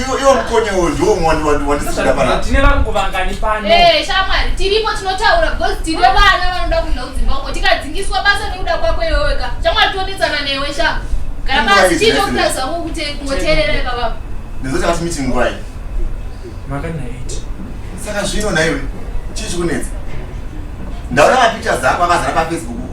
Iwo iwo mkonye uwo ndiwo wandi wandi wandisida pana. Tine vanhu kuvangani pano. Eh, shamwari, tiripo tinotaura because tine vana vanoda kuenda kudzimba uko. Tikadzingiswa basa nekuda kwako iwe wega. Shamwari tonetsana newe sha. Gara basi chii chokuda zvangu kuti kungoteerera ipa baba. Ndizoita kuti meeting ngwai. Maka na 8. Saka zvino naiwe. Chii chikunetsa? Ndaona mapictures ako akazara pa Facebook.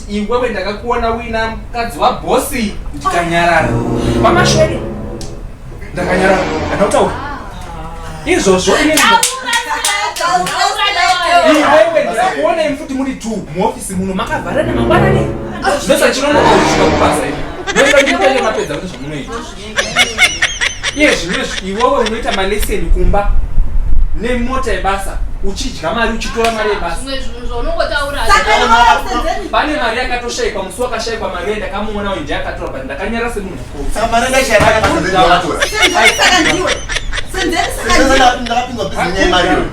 Iwewe ndakakuona wina mukadzi wabosi ndikanyarara. Mama Shwede. Ndakanyarara. Ndakutaura. Izvozvo ini Iwewe ndakakuona imi futi muri two muoffice muno makavharana mangwanani. Ndosa chinonoka kusvika kubasa imi. Ndosa ndikutenge mapedza kuti zvamunoita. iye zvimwe iwewe unoita maleseni kumba nemota yebasa uchidya mari uchitora mari yebasapane mari yakatoshaikwa musi wakashaikwa mari yendakamuona uyu ndiakatora but ndakanyara semunhu mukuru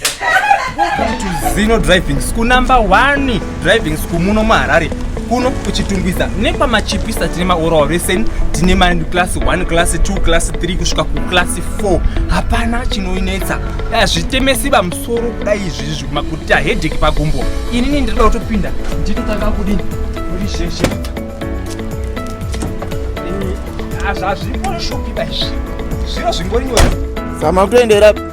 Welcome to Zino Driving School number 1 driving school muno muHarare kuno kuchitungwiza nekwamachipisa tine maoral lesson tine ma class 1 class 2 class 3 kusvika kuclass 4 hapana chinoinetsa hazvitemesi vamusoro kudai izvizvi kuti ahedheki pagumbo inini ndinoda kutopinda ndinotanga kudini kuri sheshe hazvipo shokida izvi zviro zvingori nyore zama kutoendera